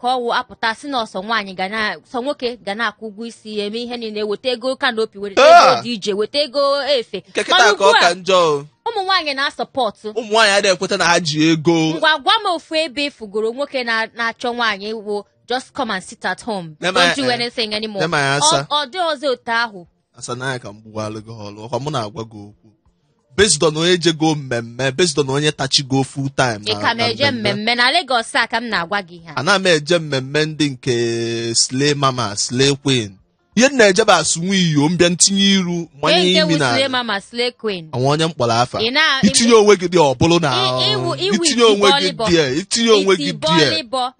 ka ọ wụ apụta sị na ọ sọ nwaanyị ga na sọ nwoke ga na-akwụ ụgwọ isi ya eme ihe niile weta ego canopy weta ego Ah! DJ weta ego efe nke Mana kịta ka ugbu ọ a, ka njọ o. ụmụ nwaanyị na-asọpọtụ ụmụ nwaanyị adịghị ekweta na ha ji ego ngwa gwa m ofu ebe ị fụgoro nwoke na- na-achọ nwaanyị wụ just come and sit at home Nema- don't do eh, anything anymore nema ya asa. Ọ- ọ dị ọzọ otu ahụ asa n'anya ka m gbuwalụ gị ọlụ ọ kwa mụ na-agwa gị okwu based on onye jego mmemme based on onye tachigo full time ị na- ka na na-eje mmemme na Lagos a ka m na-agwa gị ihe a. ana m eje mmemme ndị nke slay mama slay queen ihe m na-eje bụ asụ nwa iyo mbịa ntinye iru Onye mmanye nke imi na wusile mama slay queen enwe onye m kpọrọ afa Ị na- itinye onwe gị die ọ bụlụ na Ị- ịwụ- ịwụ itinye onwe gị itibọlịbọ. die itinye onwe gị die itibọlịbọ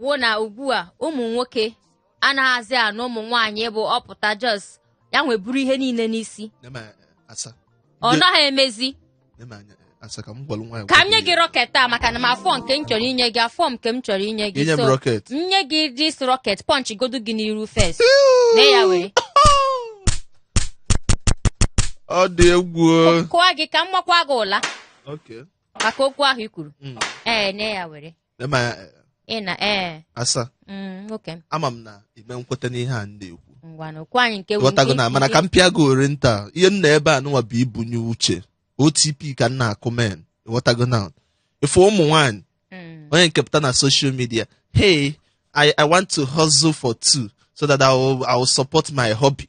wụ na ugbu a ụmụ nwoke anaghịzi anụ ụmụ nwaanyị bụ ọ pụta just ya nwa buru ihe niile n'isi Nema asa. ọ Nye- naghị emezi nema anya- asa ka m gwalụ nwaanyị ka m nye gị rocket a maka na m afọ nke m chọrọ inye gị afọ nke m chọrọ inye gị Inye m so rocket. m nye gị this rocket punch godu gị n'iru first nee ya were ọ dị egwu o. kụọ gị ka m makwa gị ụla Okay. maka okwu ahụ i kwuru Mm. ee nee ya were Ema ya eh, ị na ee asa mm, nwoke m ama m na ime nkweta n'ihe a m na-ekwu ngwanụ gwa anyị nke ghọtago na mana ka m pịa gị ori nta ihe m nọ ebe a nụnwa bụ ibunye uche otp ka m na-akụ men ị ghọtago na ife ụmụ nwaanyị Mm, onye nke pụta na social media hey I, I want to hustle for two so that I will, I will support my hubby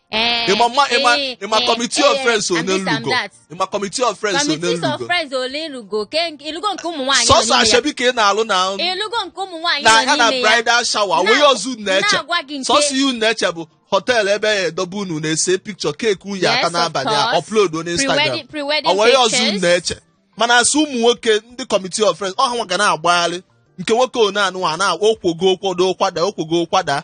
Eh, ịma mma ịma eh, ịma eh, committee of eh, friends and this and onelugo that. ịma committee of friends Committees of onelugo friends ole ilugo ke ilugo nke ụmụ nwaanyị nọ sọsọ n'ime ya. asoebi ka ị na-alụ na ilugo nke ụmụ nwaanyị na nọ ya na n'ime ya bridal shower Na- onweghị ọzọ unu na-eche na-agwa gị nke- sọsọ ihe unu na-eche bụ hotel ebe ya edobe unu na-ese picture cake uyi aka Yes, of n'abalị a course. upload on Instagram Pre-wedding- pre-wedding onweghị ọzọ unu pictures. na-eche mana asị ụmụ nwoke ndị committee of friends ọ ha nwa ga na-agbagharị nke nwoke one anụ a na-okwogo okwodo kwada okwogo kwada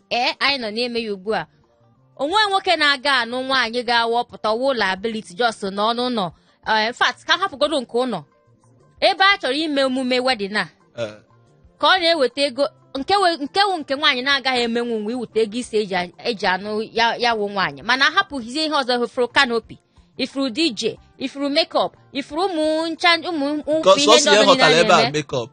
ee anyị nọ n'ime ya ugbu a o nwe nwoke na-aga anụ nwaanyị ga-awụ ọ pụta ọ wụrụ liability just nọ n'ụlọ in fact ka a hapụgodo nke ụlọ ebe a chọrọ ime emume wedding a Eh, ka ọ na-eweta ego nke we- nke wụ nke nwaanyị na-agaghị emenwu wụ iweta ego isi eji a- eji anụ ya ya wụ nwaanyị mana ahapụghịzie ihe ọzọ ị fụrụ canopy ị fụrụ DJ ị fụrụ makeup ị fụrụ ụmụ ncha ụmụ ụmụ ka ihe sọsọ ndị ihe ọzọ niile họtara a ebe a na-eme makeup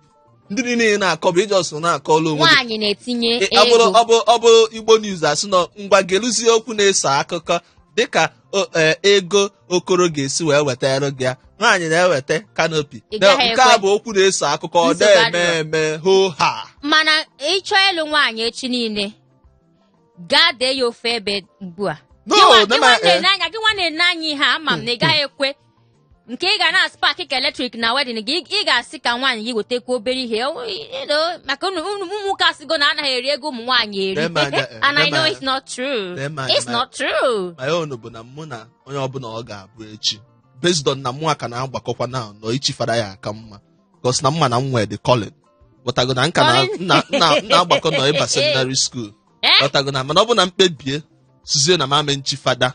ndị niile ị na-akọ bụ ị just na-akọlụ onwe gị nwaanyị na-etinye Ị- ọ bụrụ ego ọ bụ ọ bụ Igbo news asị nọ ngwa geluzie okwu na-eso akụkọ dịka o- e, Ego Okoro ga-esi wee wetara gị ya nwaanyị na-eweta canopy Ị Na- gaghị nke a ekwe. bụ okwu na-eso akụkọ ọ Nsogbu na-eme adịrọ. eme ho ha mana ị chọọ ịlụ nwaanyị echi niile gaa dee ya ofe ebe ugbu a No, Gị nwa- gị nwa nema- eh. na-ene anya gị nwa na-ene anya ihe a ama m na ị gaghị ekwe nke ị ga na-aspak ka eletrik na wedding gị ị ga-asị ka nwaanyị gị wetakwa obere ihe maka ụmụnwoke asịgo na anaghị eri ego ụmụ nwaanyị eri and I know it's not true it's not true my own bụ na mụ na onye ọbụla ọ ga-abụ echi based on na mụwa ka na-agbakọkwa na ọ ichi fada ya aka mma because na m ma na m nwee the calling ghọtago na m ka na-agbakọ na ọ ịba seminary school ghọtago na mana ọ bụ na m kpebiesizie na m ame nchi fada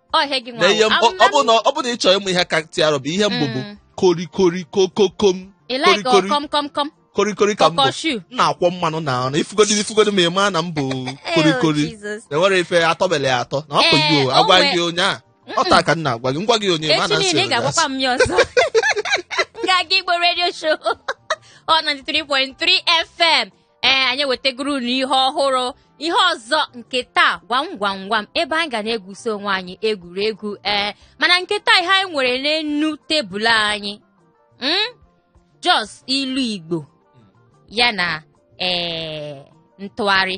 Ọ ihe gị nwa. na ihe m- ọ- ọ bụ na ọ bụ na ị chọrọ ịmụ ihe ka tear rubber ihe m bụ bụ Mm. korikori kokokom Ị like korikori. ọkọm kọm kọm. korikori ka m bụ Kọkọshu. m na-akwọ mmanụ na anụ ị fugodi ị fugodi ma ị maa na m bụ Oh, korikori Jesus. na enwere ife atọbele ya atọ na ọ Eh, kụghị o o agwa nwe- gị ụnyaa ọ taa ka m na-agwa gị m gwa gị ụnyaa ma Echi na nsị niile ị ga-agwakwa m ya ọzọ. Nganga Igbo Radio Show. Hot 93.3 FM. ee anyị ewetagoro unu ihe ọhụrụ ihe ọzọ nke taa gwam gwam gwam ebe anyị ga na-egwusi onwe anyị egwuregwu ee mana nke taa ihe anyị nwere n'enu tebụl anyị hmm? just ilu Igbo ya na ee ntụgharị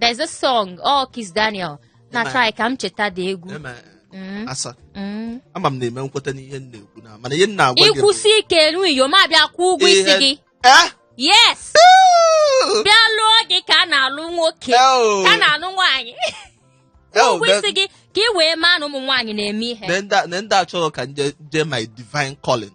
there's a song oh Kiss Daniel na-atry ka m cheta the egwu Eme- Mm, asa mm. ama m na-eme nkweta n'ihe m na-ekwu na mana ihe m na-agwa gị bụ- ị kwusi ike elu iyo ma bịa kwụọ ụgwọ isi Ihe- gị Eh? yes bịa lụọ gị ka a na-alụ nwoke Eo. ka a na-alụ nwaanyị Eo, ụgwọ isi then- gị ka ị wee maa na ụmụ nwaanyị na-eme ihe na ndị a- na ndị a chọrọ ka m jee- jee my divine calling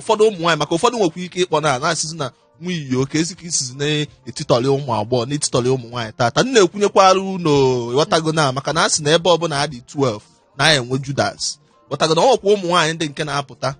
ụfọdụ ụmụ nwaanyị maka ụfọdụ nwekwa ike ịkpọ na na-asịzi na nwa iyo ka ezi ka isizi na-etitọrị ụmụ agbọghọ na-etitọrị ụmụ nwaanyị tata m na-ekwunyekwara unu ghọtago na maka na a sị na ebe ọbụla ha dị 12 na ya enwe Judas ghọtago na ọ nwekwa ụmụ nwaanyị ndị nke na-apụta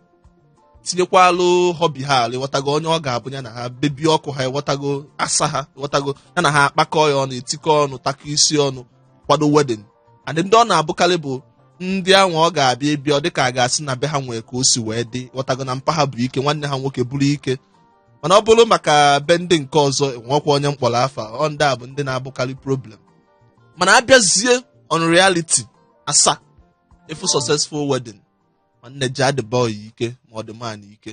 tinyekwalụ hubby ha alụ ịghọtago onye ọ ga-abụ ya na ha baby ọkụ ha ịghọtago asa ha ịghọtago ya na ha akpakọ ya ọnụ etikọ ọnụ takọ isi ọnụ kwado wedding and ndị ọ na-abụkarị bụ ndị ahụ ọ ga-abụ ị bịa ọ dịka a ga-asị na be ha nwee ka o si wee dị ghọtago na mpa ha bụ ike nwanne ha nwoke bụrụ ike mana ọ bụrụ maka be ndị nke ọzọ enwekwa onye m kpọrọ afa o ndị a bụ ndị na-abụkarị problem mana abịazie on reality asa ị fụ successful wedding nwanne ji adị boy ike ma ọ dị man ike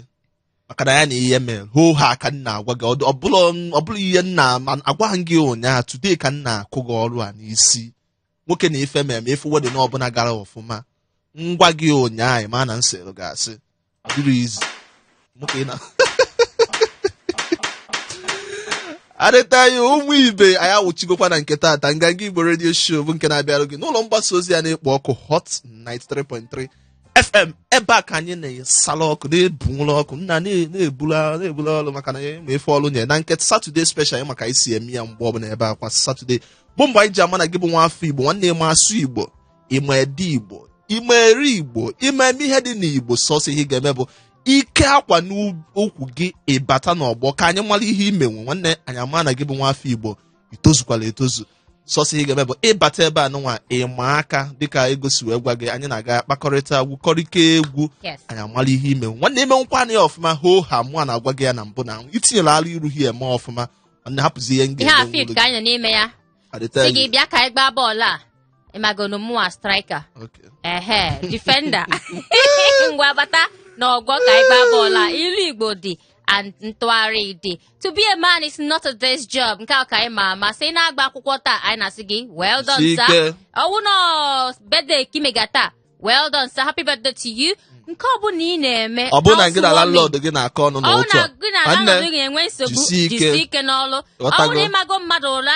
maka na ya na ihe mere hoo ha ka m na-agwa gị ọ bụrụ ihe m na-agwaghị gị ụnyaahụ today ka m na-akụ gị ọrụ a n'isi nwoke na ife mere ma ị fụ wedding ọbụla gara ọfụma m gwa gị ụnyaahụ ma na m sịrị gị asị dịrọ easy nwoke na arịta ya ụmụ ibe anyị awụchigokwa na nke taata Nganga Igbo Radio Show bụ nke na-abịarụ gị n'ụlọ mgbasa ozi a na-ekpo ọkụ Hot 93.3 fm ebe a ka anyị na-esala ọkụ na-ebunwụrụ ọkụ nna na- na-ebula na-ebula ọrụ maka na ya ma efe ọrụ nye na nke Saturday special ịma ka e si eme ya mgbe ọbụla ebe a kwa Saturday bụ mgbe anyị ji ama na gị bụ nwa afọ igbo nwanne ị ma asụ igbo ị ma ede igbo ị ma eri igbo ị ma eme ihe dị n'igbo sọsọ ihe ị ga-eme bụ i kee akwa n'ukwu gị ị bata n'ọgbọ ka anyị mara ihe i menwu nwanne anyị ama na gị bụ nwa afọ igbo i tozukwala etozu sọsọ ihe ị ga-eme bụ ịbata ebe a nụnwa ịma aka dịka egosi wee gwa gị anyị na gị akpakọrịta gwukọrịta egwu Yes. anyị amara ihe i menwu nwanne i menwukwana ya ọfụma hoo haa mụwa na-agwa gị ya na mbụ na i tinyela arụ iru ha eme ọfụma nwanne hapụzi ihe m ihe a ga-eme field ka anyị nọ n'ime ya adịta sị gị bịa ka anyị gbaa bọọlụ a ị magonụ mụwa striker ehe defender ngwa bata na ọgbọ ka anyị gbaa bọọlụ a ilu igbo dị and ntụgharị dị to be a man is not a day's job nke a ka anyị ma ama sị na-agba akwụkwọ taa anyị na-asị gị well done sir ọ wụ na birthday ka i mega taa well done sir happy birthday to you nke ọ bụla ị na-eme ọ bụrụ na gị na housewarming, landlord gị na-akọ ọnụ ọ bụrụ n'otu na a gị na nwanne, landlord gị na-enwe nsogbu jisie ike. jisie ike n'ọlụ ọ Ghọtago. bụrụ na ị mago mmadụ ụra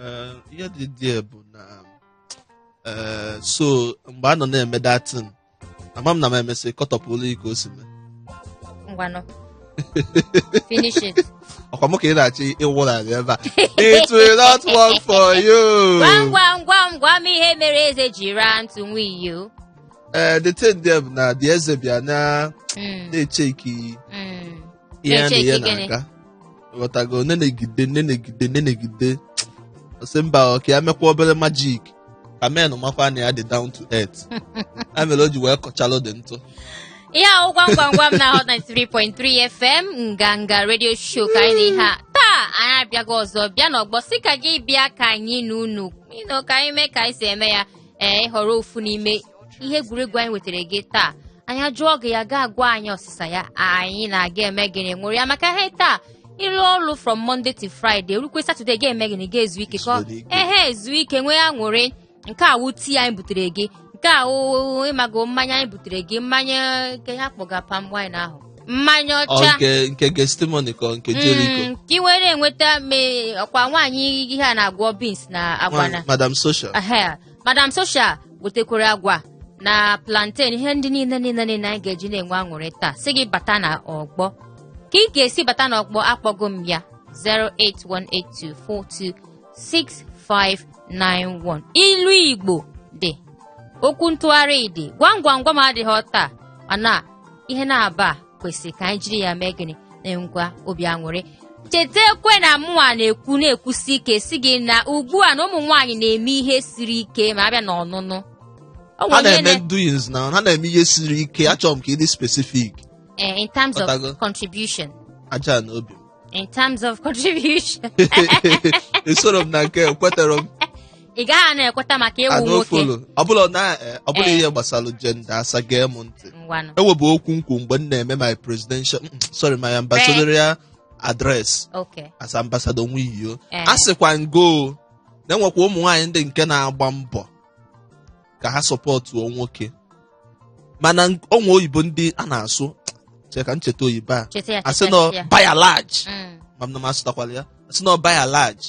Eh, ihe dị there bụ na eh, so mgbe a nọ na-eme that thing ama m na m emesị kọtọpụlụ ike o si mee ngwanụ finish it ọ kwa mụ ka ị na-achọ ịwụrarị ebe a it will not work for you gwam gwam gwam gwam ihe mere eze ji raa ntụ nwayọ Eh, the thing there bụ na the eze bịa na Mm, na-echeki mm. ihe na-eche ihe ike gịnị? na-aga ghọtago nenegide nenegide nenegide ọ sị mba ọ ka ya mekwa obere magic ka men makwa na ya dị down to earth ya mere o ji wee kọchalụ the ntụ ihe ahụ gwam gwam gwam na hot 93.3 fm nganga radio show ka anyị na ihe a taa anyị abịago ọzọ bịa n'ọgbọ sị ka gị bịa ka anyị na unu ịnụ ka anyị mee ka anyị si eme ya ee ị họrọ ofu n'ime ihe egwuregwu anyị wetara gị taa anyị ajụọ gị ya gị agwa anyị ọsịsa ya anyị na gị emee gịnị ṅụrịa maka ihe taa ị rụọ ọrụ from Monday to Friday o rukwe Saturday ị ga-eme gịnị ga-ezu ike ka ehe ezu ike nwee aṅụrị nke a wụ tea anyị butere gị nke a wụ ị mago mmanya anyị butere gị mmanya nke ha kpọga palm wine ahụ mmanya ọcha nke gestimoni ka nke Jericho mm, ka ị were enweta ọ kwa nwaanyị ihe a na-agwọ beans na agwa na madam social madam social wetekwara agwa na plantain ihe ndị niile niile niile anyị ga-eji na-enwe aṅụrị taa sị gị bata na ọgbọ ka ị ga-esi bata na ọgbọ akpọgo m ya 08182426591 ilu igbo dị okwu ntụgharị dị gwam gwam gwam adịghị taa mana ihe na-aba kwesịrị ka anyị jiri ya mee gịnị na-enwekwa obi aṅụrị chetakwe na mụnwa na-ekwu na-ekwusi ike sị gị na ugbu a na ụmụ nwaanyị na-eme ihe siri ike ma a bịa na ọnụnụ O nwere ha onye na-eme na- doings na ha na-eme ihe siri ike achọrọ m ka ị dị specific eh, in terms of Ọtago. contribution aja na obi in terms of contribution esoro m na nke kwetara m ị gaghị na-ekweta maka ị wụ nwoke adofolo ọbụla na eh, ọbụla Eh. ihe gbasara gender Asa gee m ntị ngwanụ e nwebu okwu m kwu mgbe m na-eme my presidential mm, sorry my ambassadorial address oke as ambassador nwiyo Eh. asịkwa m gọ na e nwekwa ụmụ nwaanyị ndị nke na-agba mbọ ka ha sọpọtụọ nwoke mana o nwe oyibo ndị a na-asụ che ka m cheta oyibo a cheta ya a sị cheta nọ ya. by and large Mm. ma m na m asụtakwala ya a sị nọ by and large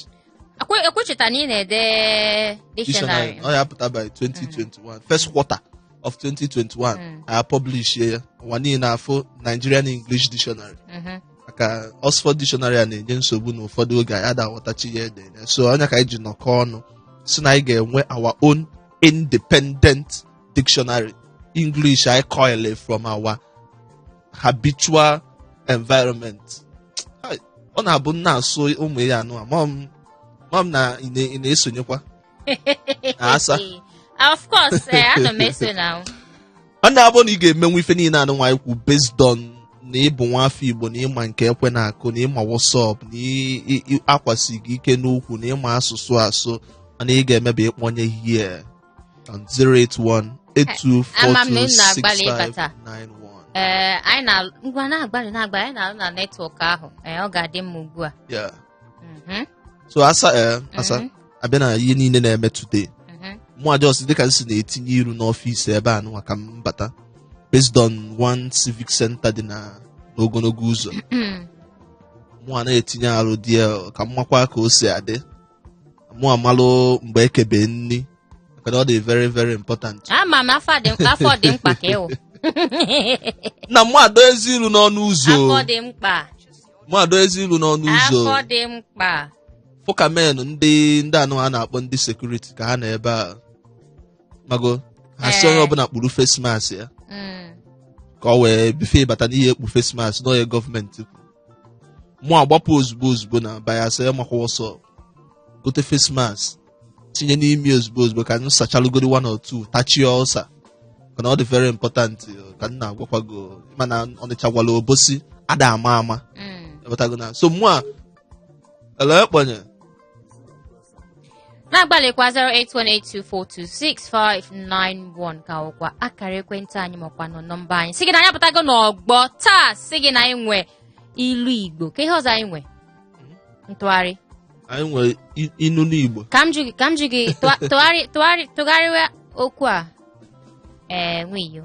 Ekwe- ekwecheta na ị na-ede dictionary dictionary ọ ya-apụta by 2021 first quarter of 2021 Mm. a publish ya ụwa niile na-afụ Nigerian English Dictionary Mhm. maka Oxford Dictionary a na-enye nsogbu na ụfọdụ oge anyị ada aghọtacha ihe e dere so ọ nya ka anyị ji nọkọ ọnụ sị na anyị ga-enwe our own independent dictionary English anyị coil from our habitual environment ọ na-abụ m na-asụ ụmụ ihe anụ a ama m ama m na ị na- ị na-esonyekwa Asa. of course eh, ana m eso now ọ na-abụ na ị ga-emenwu ife niile anụnwa m kwu based on na ị bụ nwa afọ Igbo na ị ma nke ekwe na-akụ na ị ma what's up na ị- ị- ị- akwa si gị ike n'ukwu na ị ma asụsụ asụ mana ị ga-eme bụ ịkpọnye here on 081 Ama m na unu na-agbalị ịbata. 824691. ee anyị na ngwa na-agbalị na-agbalị anyị na-arụ na network ahụ ee ọ ga-adị mma ugbu a Yeah. Mhm, so Asa eh, Asa mhm, a bịa na ihe niile na-eme today mhm. mụ a just dịka m si na-etinye iru n'office ebe anụwa ka m bata based on one civic center dị na n'ogologo ụzọ mụ a na-etinye arụ dị ya ka m makwa ka o si adị mụ amalụ mgbe e kebe nri maka na ọ dị very very important ama m afọ dị afọ dị mkpa ka ị wụ na mụ adọ ezi ilu n'ọnụ ụzọ afọ dị mkpa mụ adọ ezi ilu n'ọnụ ụzọ afọ dị mkpa fụ ka men ndị ndị anụ a na-akpọ ndị security ka ha nọ ebe a mago ha sị Ee. onye ọbụla kpuru face mask ya Mm. ka o wee before ị bata na ị ya-ekpu face mask na ọ ihe gọọmenti mụ agbapụ ozugbo ozugbo nearby Asa ị makwa ọsọ gote face mask tinye n'imi ozugbo ozugbo ka m sachalụgodi one or two tachie ọsa maka na ọ dị very important uh, ka m na-agwakwa gọ ị ma na Ọnịcha gwala Obosi ada ama ama Mm. Ị wọtago now so mụ a hello ị kpọnye na-agbalịkwa 08182426591 ka wụkwa akara ekwentị anyị makwa na ọ nọmba anyị sị gị na anyị apụtago n'ọgbọ taa sị gị na anyị nwe ilu igbo ke ihe ọzọ anyị nwe ntụgharị anyị nwere i- inu n'igbo ka m jụ gị ka m jụ gị tụgharị tụgharị tụgharịwa okwu a ee nwa iyo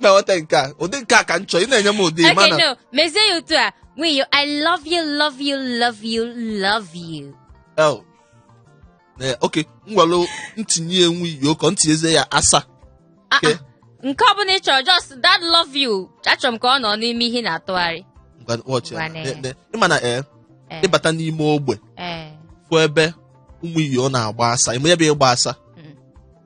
na-enweta nke a ụdị nke a ka m chọọ ị na-enye m ụdị Okay, mana no. Mezie ya otu a. Nwa iyo, I love you, love you, love you, love you. Oh. Eh, okay ngwanụ ntinye nwa iyo ka m tinyezie ya asa Ah, Okay. ah. Nke ọ bụla ị chọrọ, just that love you. Achọrọ m ka ọ nọ n'ime ihe ị na-atụgharị. Ngwa, watch ya. Ngwa na- Ne- ne- ị ma na ee Eh, ịbata n'ime ogbe eh. fụ ebe ụmụ iyo na-agba asa ịma ebe ịgba asa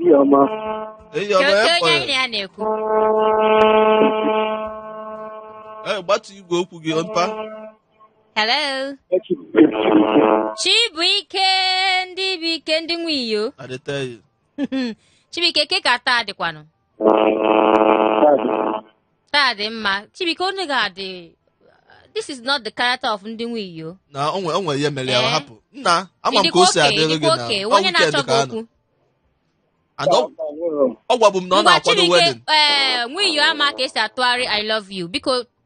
Ihe ọma. Ihe Ke- ọma ke onye anyị na ekwe. ya na-ekwu Ee, gbatu igwe okwu gị mpa. hello chibuike ndị bụ ike ndị nwe iyo Adịteghị. chibuike ke ka taa dịkwanụ taa dị mma chibuike onye ga-adị this is not the character of ndị nwe iyo na o nwe- o nwere ihe mere ya Eh. ọ hapụ nna ama m ka Ịdịkwa o si okay, adịrị gị ịdịkwa na okay, ọ onye weekend na-achọ gị ka a nọ. okwu And ọ- ọ gwabụ m na ọ ngwa na-akwado chibuike wedding ee nwa iyo ama ka e si atụgharị i love you biko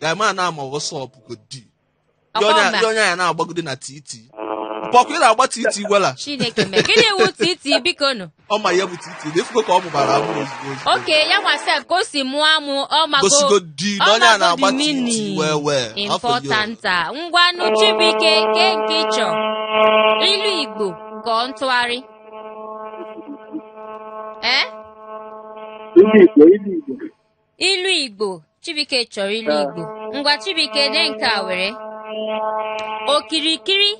Guy man na-ama what's up ka ọ dị. Ndị Ọkwa onye- mba. ndị onye ya na-agbagide na titi. Bọkụ ị na-agba titi wela. chineke mee gịnị wu titi biko nụ Ọ ma ihe bụ titi. Na ị fụgo ka ọ mụbara amụ ozugbo ozugbo. okay ya nwa sef ka o si mụọ amụ ọ mago Gosigo di na onye a na-agba titi meaning well well. Afọ important a. ngwanụ chibuike ke nke ị chọ ilu igbo ka ọ ntụgharị ee Ilu Igbo, ilu Igbo. ilu igbo chibuike chọrọ ilu igbo ngwa chibuike lee nke a were okirikiri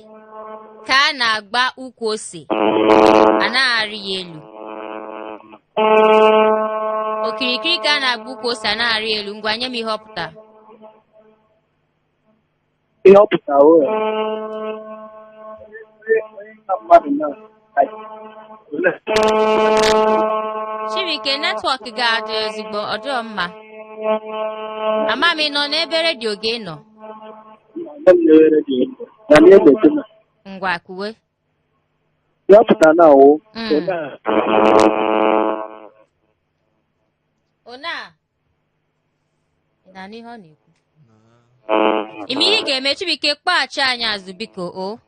ka a na-agba ukwu ose anaghị arị ya elu okirikiri ka a na-agba ukwu ose anaghị arị ya elu ngwa nye m ihe ọ pụtara ihe ọ pụtara o nwere na mmadụ na Chibuike netwọk gị adị ezigbo ọ dịghị mma ama m ị nọ n'ebe redio gị nọ na-ewere gị ego na na-emepe na ngwa kwuwe ihe ọ pụtara na ọ wụ Mm. onye a Ona Ị na-anụ ihe ọ na-ekwu? Ị ma ihe ị ga-eme Chibuike kpọghachi anyị azụ biko o.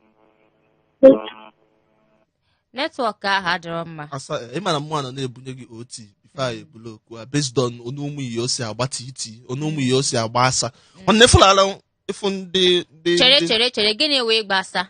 Netwọk ahụ adịrọ mma. asa ị ma na mụ nọ na-ebunye gị OT before e bula okwu a based on otu ụmụ iyo si agba titi otu ụmụ iyo si agba asa nwanne fụlala ịfụ ndị ndị Chere ndị- chere chere gịnị wụ ịgba asa?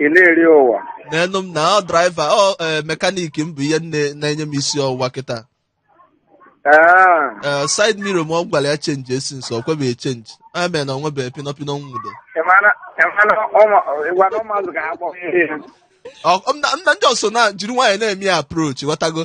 ị na-eri ụwa n'enu m na ọ draiva ọ eh, mekaniki m bụ ihe nne- na-enye m isi ọwụwa kịta Ah, Eh, side mirror mụ gwara ya chenjie since ọ kwebeghị chenji a mere na ọ nwebeghị pinọpinọ nwudo ị mara ị mara ụmụ- ị gwara ụmụazụ ka ha kpọọ ihe Ọ- m na- m na ndị ọso na jiri nwaanyị na-eme ya approach ghọtago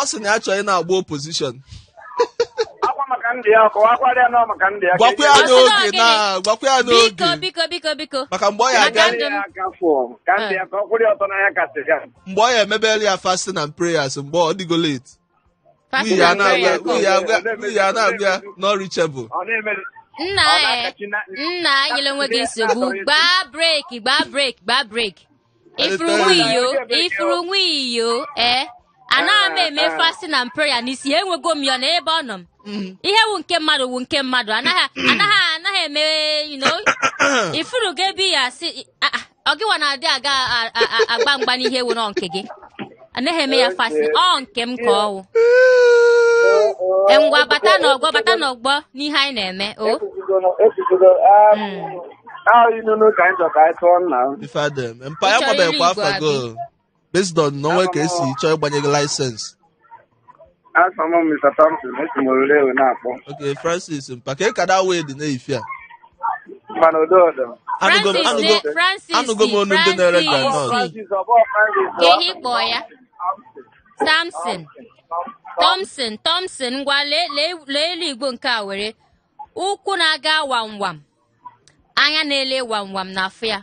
ọ sị na ya chọrọ ị na-agba opozishọn gwakwa ya n'oge na gwakwa ya n'oge biko biko biko maka mgbe ọ ya aga mgbe ọ ya emebere ya fasting and prayers mgbe ọ dịgo late Pati Uyi a na-agwa ya, Nigeria uyi a na-agwa ya, uyi a na-agwa ya, not reachable. Ọ na-emere nna ọ e na-akachi na nna enyela onwe gị nsogbu gbaa breki gbaa breki gbaa breki ifuru nwa iyo ifuru nwa iyo ee anaghị m eme fasting and prayer n'isi enwego m ya na ebe ọ nọ m Mm. ihe wu nke mmadụ wu nke mmadụ anaghị anaghị anaghị eme you know ifuru ga ebe ya si ah, ah, ọ gịwa na-adị aga a- a- a- agba mgba n'ihe wu nọ nke gị anaghị eme ya fasi ọ nke m ka ọwụ ngwa bata n'ọgbọ bata n'ọgbọ n'ihe anyị na-eme o ekwuzigo ahụ inunu ka anyị chọ ka anyị tụọ nna m. ife adịghị eme mpa ya Ịchọ iri gbabeghịkwa igwe afọ abi. go based on na o nwe ka e si chọọ ịgbanye gị laịsensị Afa m Mr. Thompson, esi m orire wee na-akpọ. okay Francis mpa ka ịkada wee dị na-efi a Mana odo ọdọ. anụgo m Francis anụgo ne- Francis anụgo m onu ndị na-ere Francis. granọt Francis, ọ bụ Francis, ọ? Ke ihe ị kpọọ ya. Samson. Thompson, Thompson, ngwa lee lee- lee ilu Igbo nke a were. Ụkwụ na-aga wam wam. Anya na-ele wam wam na-afụ ya.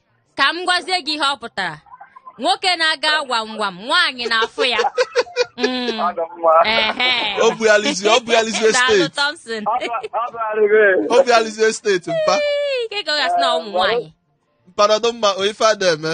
ka m gwazie gị ihe ọ pụtara nwoke na-aga gwam gwam nwaanyị na-afụ ya Mm, Ọ dụ mma. ehe. O bugharịzi- o bugharịzi Daalụ, estate. Thompson. Ọ bụ- ọ bụ arịrị. obi alizie steeti mpa Ii, ike ka ọ gasị na ụmụ nwaanyị mpa nọdụ mma o ife a na-eme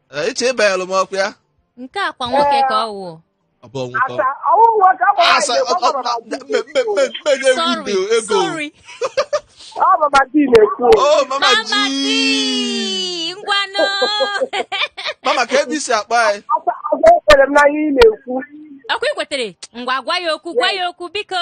Ee, iche ịbanyelụ m ọkụ ya nke a kwa nwoke ka ọ wụ ọ bụ ọnwụ ka ọ- Asa, ọ wụ nwoke, ọ bụ Asa, nwaanyị, ọ- ọ- ọ bụ maka di. mme- mme- mme- mme na-ewu sorry ibe ego sorry Ọ bụ Mama G na-ekwu. o mama Mama G G ngwanụ mama ke ebe i si akpọ anyị Asa, ọzọ ekwere m n'ihe ị na-ekwu. ọkwa i kwetere ngwa gwa ya okwu gwa ya okwu biko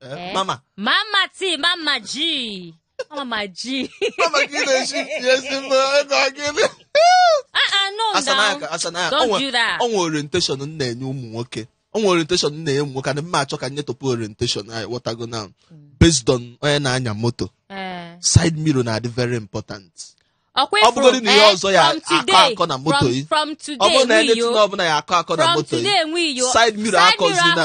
Eh, mama Mama T Mama G Mama G mama gị na-eji ezi mma ego gịnị o nwe orientation m na-enye ụmụ nwoke o nwe orientation m na-enye ụmụ nwoke na m na-achọ ka nyetopụ orientation anyị wọtago na hmm. based on onye na-anya moto eh. side mirror na-adị very important ọ bụgodị na ihe eh, ọzọ ya akọ akọ na moto yi ọ bụrụ na anything ọbụla ya akọ akọ na moto yi side mirror akọzina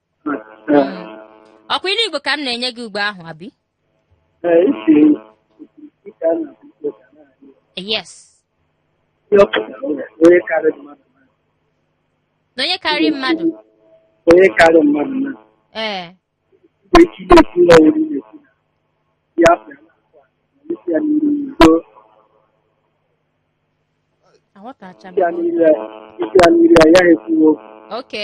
ọkwa ilu igbo ka m na-enye gị ugbo ahụ abi yes na onye karịrị mmadụ onye karị mmadụ na ee echi na-ekwu na ọrụ na-ekwu na ya pụrụ isi ya n'iru n'udo aghọtacha m isi ya n'iru ya isi ya n'iru ya ya ekwuwo oke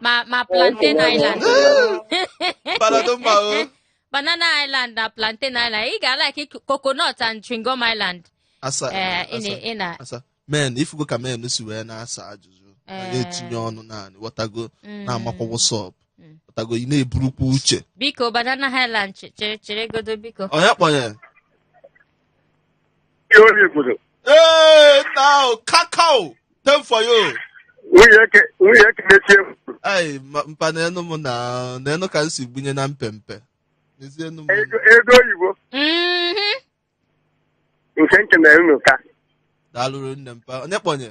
ma ma plantain island Panado mma o. banana island na plantain island ị ga-alike coconut and chewing-gum island Asa. ee ị na- asa, ị na asa. Men, ifugo ka men si wee na-asa ajụjụ. Na Eh. na-etinye ọnụ naanị. Wọtago Mm. na-amakwa what's up. Mm. Wọtago ị na-eburukwa uche. biko banana island che- chere chere godo biko Onye kpọnye? Ihe onye obodo. Ee, nna ahụ, kakao, time for you. Nwunye eke nwunye eke na-echi ewu. Ai, ma- mpa na enu m na na enu ka m si gbunye na mpempe. N'ezie enu m. Ego ego oyibo Mhm. nke nke na unu ka. Daalụrụ nne mpa. Onye kpọnye?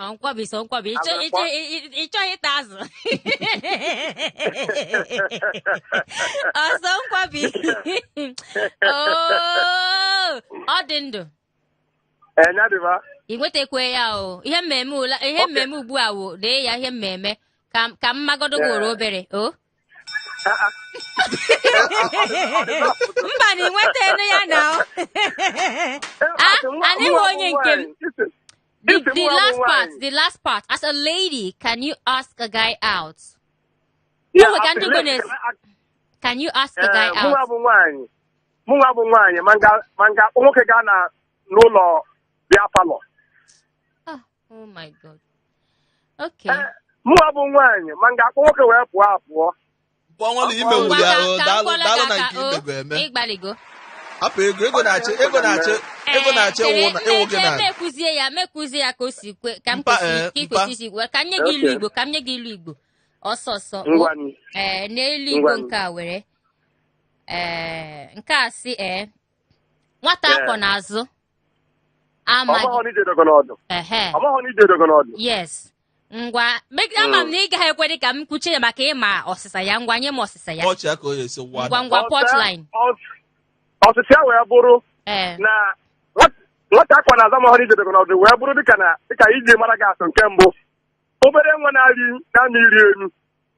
Ọ nkwobi sọ nkwobi ịchọ Agwara ịchọ kpọ- ị- ị- ịchọghị ịta azụ ọ sọ nkwobi Oo, ọ dị ndụ Ee, ya dịba. ị nwetakwe ya o ihe mmemme ula ihe Okay. mmemme ugbu a wo dee ya ihe mmemme ka ka m magodo Yeah. gworo obere o Ah, ah. mba na ị nwetanụ ya na o Ee, Ah, asị nwa- anyị nwa nwe onye nke m. nwaanyị. Isi- The, Ese the mụ last abụ part, nwaanyị. the last part. As a lady, can you ask a guy out? Yeah, Ụmụ ka as a ndị lady, Igbo can I ask- Can you ask a guy Eh, mụnwa out? bụ nwaanyị mụnwa bụ nwaanyị ma m ga ma m ga-akpọ nwoke gaa na n'ụlọ beer parlour Ah, oh my God. Okay. Eh, mụnwa bụ nwaanyị ma m ga-akpọ nwoke wee pụọ apụọ Mkpọnwụlụ ime Ngwa wuli ka ahụ ka m daalụ kpọrọ daalụ gị na aka nke o imego eme. ịgbaligo Hapụ ego ego na-achị ego na-achị ego na-achị Ee, ịwụ na ịwụ gị chere- na. chere m ekwuzie ya m ekwuzie ya ka o si kwe ka m Mpa, kwesị- eh, ka ị mpa. kwesị isi gwa ka m nye gị ilu Okay. igbo ka m nye gị ilu igbo ọsọ ọsọ o. Ngwanụ. ee n'ilu igbo Ngwanụ. nke a were ee nke a sị ee nwata Ee. a kwọ n'azụ amaghị ọmaghọ na ije dogo n'ọdụ ehe ọmaghọ na ije dogo n'ọdụ yes ngwa me- ama m na ị gaghị ekwe dị ka m kwuchie ya maka ịma ọsịsa ya ngwa nye m ọsịsa ya ọchị ya ka o ya esi ngwa wada ngwa Ọsịsa- punchline ọs- ọsịsa ya wee bụrụ ee na nwat- nwata a kwọ n'azụ amahọ na ije dogo n'ọdụ wee bụrụ dịka na dịka iji mara gị atụ nke mbụ obere nwa na-arị na-amụ iri elu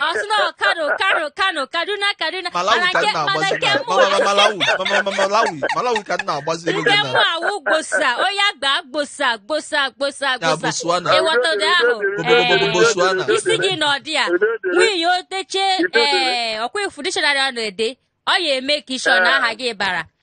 ọ sị na ọ kano kano kano kaduna kaduna Malawi mana ka nke m mana na-agbazi nke mụ Ma- ma- Malawi ma- ma- ma- Malawi Malawi ka m na-agbazi elu nke gị mụ na awụ gbosa onye agba gbosa gbosa gbosa ya gbosa Botswana ịghọta ụdị ahụ Obodo ee Botswana isi gị na ọdị ya nwunye o teche ee ọkwa ifu dictionary ọ na-ede ọ ya eme ka isi ọ na aha gị bara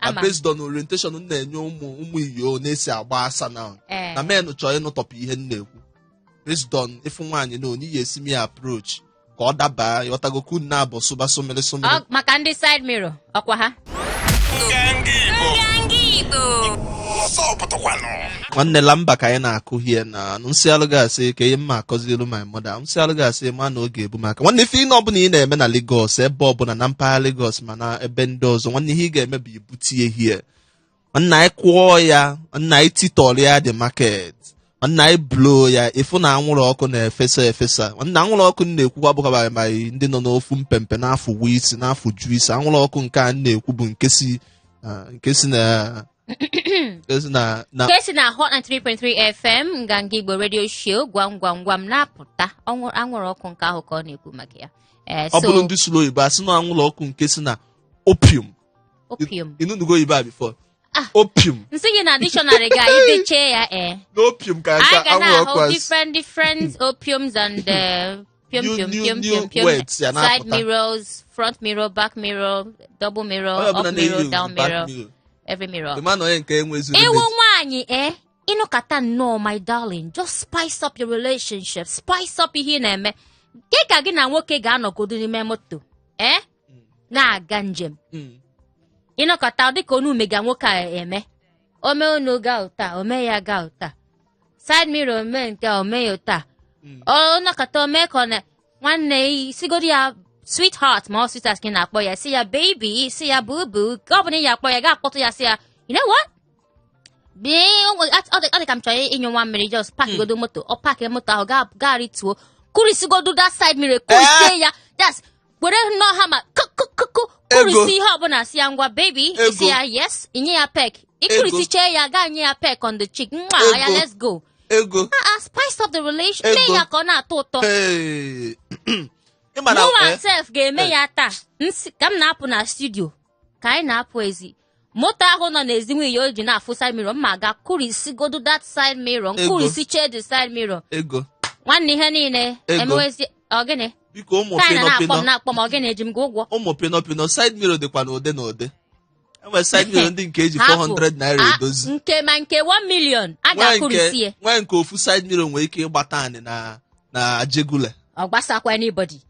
na Ama m. based on orientation m na-enye ụmụ ụmụ iyo na-esi agba asa na Ee. na men chọọ ịnụtọpụ ihe m na-ekwu based on ịfụ nwaanyị na onye ya esi eme ya approach ka ọ daba ịghọtago ka unu na-abụ sụba sụmịrị sụmịrị Ọ- maka ndị side mirror ọkwa ha nwanne lamba ka anyị na-akụ here na nsịalụ gasị ka ihe mma akọzielu my mother nsịalụ gasị ma na oge ebu maka nwanne ife ihe ọbụla ị na-eme na Lagos ebe ọbụla na mpaghara Lagos ma mana ebe ndị ọzọ nwanne ihe ị ga-eme bụ ibute ya here nna anyị kụọ ya nna anyị titọrọ ya the market nna anyị blow ya ịfụ na anwụrụ ọkụ na-efesa efesa nna anwụrụ ọkụ na-ekwukwa bụkwa ma ndị nọ n'ofu mpempe n'afọ wu isi n'afọ ju isi anwụrụ ọkụ nke a na-ekwu bụ nke si ah, nke si na Ezi na na nke si na Hot 93.3 FM Nganga Igbo radio show gwam gwam gwam na-apụta ọnwụ- anwụrụ ọkụ nke ahụ ka ọ na-ekwu maka ya Eh, ọ so bụrụ ndị sụrụ oyibo asị na anwụrụ ọkụ nke si na opium opium ịnụnugo oyibo a before Ah. opium nsị gị na dictionary ga anyị dechee ya ee na opium ka anyị ka ga anwụrụ ọkụ na-ahụ asị different different opiums and eh, piom New- piom new- piom new piom piom words ya side na-apụta. mirrors front mirror back mirror double mirror onye ọbụla up na-eyi mirror down back mirror mirror. every mirror Ị ma na onye nke enwezu ịwụ limit. nwaanyị e ịnọkata nnọọ my darling just spice up your relationship spice up ihe ị na-eme gị ka gị na nwoke ga-anọgodo n'ime moto e na-aga njem Mm. ịnọkata dịka onu mega nwoke a eme ome unu ga ụta ome ya ga ụta side mirror omee nke a omee ya otu a Mm. ọ nọkata omee ka ọ na nwanne ya sigodi ya sweetheart ma ọ sweetheart ka ị na-akpọ ya si ya baby si ya boo boo nke ọ bụla ị ya akpọ ya ga akpọtụ ya si ya you know what Bee, o nwe- at- ọ dị ọ dị ka m chọrọ ịnyụ nwa mmiri just park godo moto ọ park moto ahụ ga- ga rituo kụrisigodo that side mirror kụrisie ya that's were nnọọ hammer kụkụkụkụ kụrisi ihe ọbụla si ya ngwa baby isi ya yes inye ya peck ịkụrisichee ya gaa nye ya peck on the cheek gwa ya let's go ego ah, ah, spice up the relation mee ya ka ọ na-atọ ụtọ mụwa eh? sef ga-eme eh. ya taa ka m na-apụ na studio ka anyị na-apụ ezi moto ahụ nọ n'ezi nwunye o ji na-afụ side mirror mma ga kụrisigodu that side mirror Ego. m kụrisichee the side mirror ego nwanne ihe niile Ego. emewezi ọgịnị biko ụmụ ka anyị na-akpọ m pinọpinọ na-akpọ m ọgịnị eji m gị ụgwọ ụmụ pinọpinọ side mirror dịkwa n'ụdị n'ụdị enwere side mirror ndị nke eji Hapụ. 400 naira Ah, edozi nke ma nke 1 million a nwee ga-akụrisi ya nke nwee nke ofu side mirror nwere ike ịgbata anyị na na Ajegunle ọ gbasakwa anybody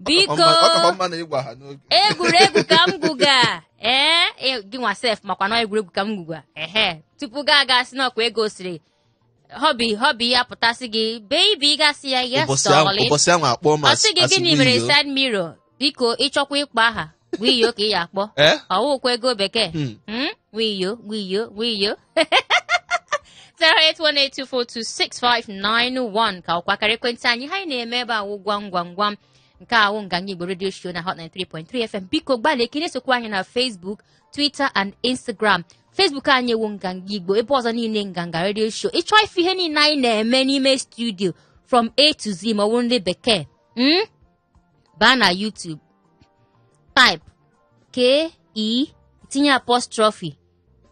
biko ọ kakwa mma na ị gwa ha n'oge egwuregwu ka m gwuga ee e- gị nwa sef makwa na egwuregwu ka m gwuga ehe tupu gị aga sị na ọ kwa Ego sịrị hubby hubby ya pụta sị gị baby gị asị ya yes ụbọchị ahụ darling ụbọchị ahụ akpọọ m ọ as sị gị as gịnị mere wiyoo. side mirror biko ị chọkwa ịkpọ aha wiyo ka ị ya-akpọ ee ọ wụkwa Ego Bekee Hmm. Hmm? wiyo wiyo wiyo 08182426591 ka ọ kwa akara ekwentị anyị ihe anyị na-eme ebe a wụ gwam gwam gwam nke a wụ nganga igbo redio show na hot 93.3 fm biko gbalịa ka ị na-esokwa anyị na facebook twitter and instagram facebook anyị wụ nganga igbo ebe ọzọ niile nganga redio show ị chọọ ịfụ ihe niile anyị na-eme n'ime studio from a to z ma ọ bụ ndị bekee Mm? baa na YouTube type k e tinye apostrophe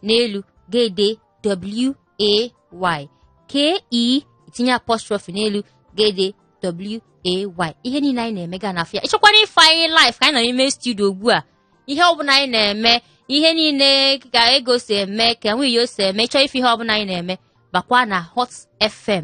n'elu gị edee w a y k e tinye apostrophe n'elu gị edee w a y ihe niile anyị na-eme ga na-afụ ya ị chọkwara ịfụ anyị live ka anyị nọ n'ime studio ugbu a ihe ọbụla anyị na-eme ihe niile ka Ego si eme ka wiyo si eme ị chọọ ịfụ ihe ọbụla anyị na-eme bakwa na hot fm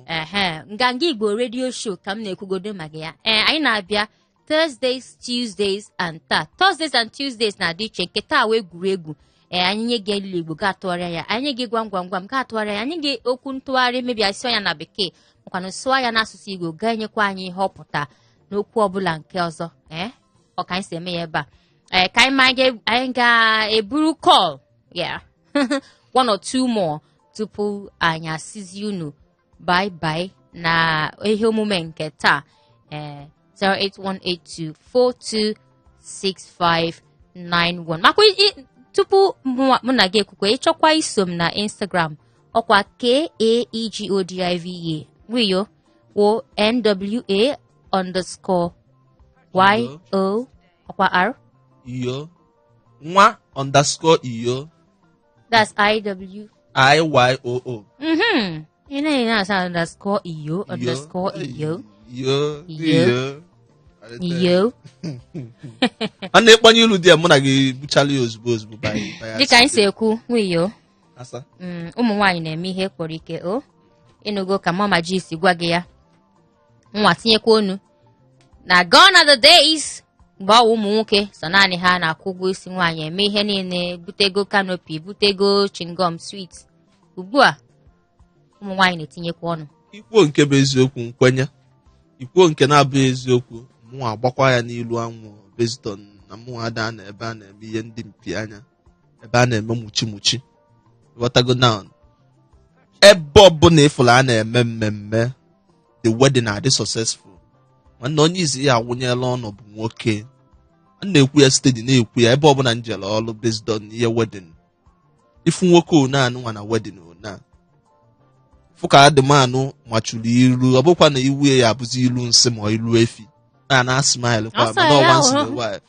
ehe nganga igbo redio show ka m na-ekwugodo maka ya ee anyị na-abịa thursdays tuesdays and taa thursdays and tuesdays na-adị iche nke taa wụ egwuregwu ee anyị nye gị ilulu igbo gị atụgharịa ya anyị nye gị gwam gwam gwam gị atụgharịa ya anyị gị okwu ntụgharị maybe a sụọ ya na bekee makwana sụọ ya n'asụsụ igbo gị enyekwa anyị ihe ọ pụta n'okwu ọbụla nke ọzọ ee ọ ka anyị si eme ya ebe a ee ka anyị ma anyị ga-eburu call ya one or two more tupu anyị asịzi unu bye bye na ihe omume nke taa ee eh, 08182426591 makwa tupu mụ na gị ekwukwe ị chọkwa iso m na Instagram ọ kwa kaegodiva wiyo wo nwa underscore yo nwa underscore iyo That's IW. IYOO. Mm-hmm. You know, you know, it's underscore iyo, underscore iyo. Yo. Yo. Yo. a na-ekpanye ilu di ya mụ na gị buchala ya ozugbo ozugbo by- by Dịka anyị si accident. ekwu, nwa iyo, Asa. mm, ụmụ nwaanyị na-eme ihe kpọrọ ike o. Ị nụgo ka mama ji si gwa gị ya. nwa tinyekwa ọnụ na gone are the days mgbe ọ wụ ụmụ nwoke so naanị ha na-akwụ ụgwọ isi nwaanyị eme ihe niile butego canopy butego chewing gum sweet ugbu a ụmụ nwaanyị na-etinyekwa ọnụ i kwuo nke bụ eziokwu m kwenye i kwuo nke na-abụghị eziokwu mụnwa agbakwa ya n'ilu anwụ based on na mụnwa ada anọ ebe a na-eme ihe ndị mpi anya ebe a na-eme muchi muchi ghọtago na ebe ọbụla ịfụrụ a na-eme mmemme the wedding adị successful nwanne onye izi ya awụnyela ọnụ bụ nwoke a na-ekwu ya steady na-ekwu ya ebe ọbụla m jere ọrụ based on ihe wedding ị fụ nwoke ọ na-anụ nwa na wedding ọ na-afụ ka adịmanụ machuru ilu ọ bụkwa na ihu ya abụzi ilu nsị ma ilu efi na na smile kwa Ọ sị mana ọwa ya nsị hụrụ. na wife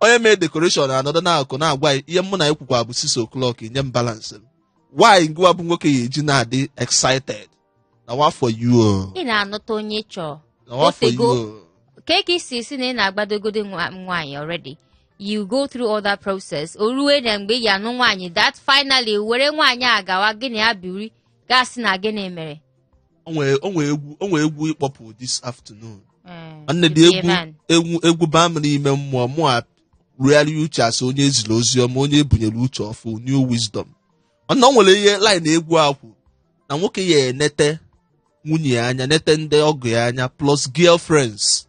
onye mee decoration anọdụ n'akụkụ na-agwa ya ihe mụ na ya kwukwa bụ 6 o'clock nye m balance m why ngịwa bụ nwoke ya eji na-adị excited na wa for you ị na-anụta onye ị chọọ na wa for Otego. you ka ị si si na ị na-agbadogodo nwa- nwaanyị already you go through all that process o ruo na mgbe ị ga-anụ nwaanyị that finally were nwaanyị a gawa gị na ya biri ga-asị na gịnị mere o nwere o nwere egwu o nwere egwu ị kpọpụ this afternoon Mm, nwanne the egwu Iran. egwu egwu baa m n'ime mmụọ mụ arogharịa uche as onye eziri ozi ọma onye ebunyere uche ọfụụ new wisdom mana o nwere ihe line egwu a kwuru na nwoke ya enete nwunye ya anya nete ndị ọgọ ya anya plus girlfriends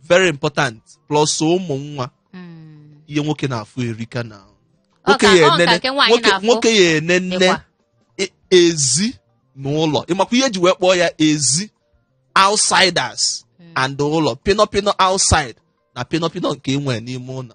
very important plus ụmụ nwa Mm. ihe nwoke na-afụ erika na Ọ nwoke ka- ya ọ ka enene nke nwaanyị nwoke na-afụ. nwoke ya enene Ịkwa. e- ezi na ụlọ ịmakwa ihe eji wee kpọọ ya ezi outsiders and ụlọ pinọpinọ outside na pinọpinọ nke enwe n'ime ụlọ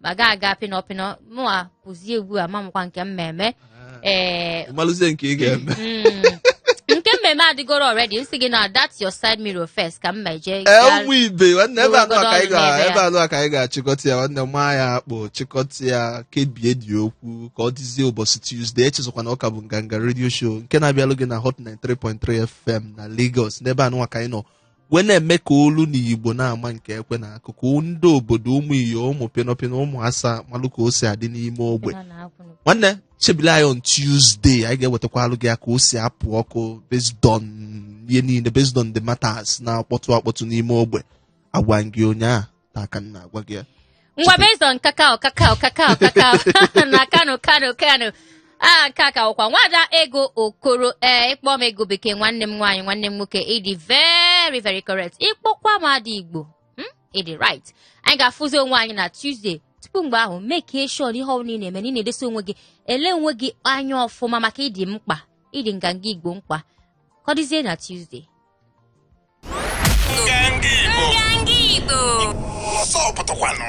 ma ga aga pịnọ pịnọ mụwa pụzie ugbu a mamụkwa nke mmemme ee ịmalụzie nke ị ga-eme mm, nke mmemme adịgoro already m sị gị na that your side mirror first ka m meje ee gaa- ụmụ ibe nwanne ebe anụwa ka anyị ga- N'ebe a. ebe anụwa ka anyị ga-achịkọta ya nwanne maa ya akpụ chịkọta ya kebie the okwu ka ọ dịzie ụbọchị tuesday echezọkwa na ọ ka bụ nganga radio show nke na-abịalụ gị na hot 93.3 fm na lagos n'ebe anụwa ka anyị nọ wee na-eme ka olu na igbo na-ama nke ekwe na-akụ ka ndị obodo ụmụ iyo ụmụ pịnọpịnọ ụmụ asa malụ ka o si adị n'ime ogbe Ha na-akwụ n'ụkwụ. nwanne chebile anyị on tuesday anyị ga-ewetakwalụ gị ya ka o si apụ ọkụ based on ihe niile based on the matters na-akpọtụ akpọtụ n'ime ogbe agwa m gị ụnyaa taa ka m na-agwa gị ya ngwa based on kakao kakao kakao kakao na kano kano kano a nke a ka ọkwa nwada ego okoro ee ịkpọ m ego bekee nwanne m nwaanyị nwanne m nwoke ịdị very very correct ịkpọkwa m ada igbo hmm? ịdị right anyị ga-afụzi onwe anyị na tuesday tupu mgbe ahụ make sure na ihe ọbụla ị na-eme na ị na-edesa onwe gị ele onwe gị anya ọfụma maka ịdị mkpa ịdị nganga igbo mkpa ka ọ dịzie na tuesday Nganga Igbo. Nganga Igbo. Ọzọ pụtakwanụ.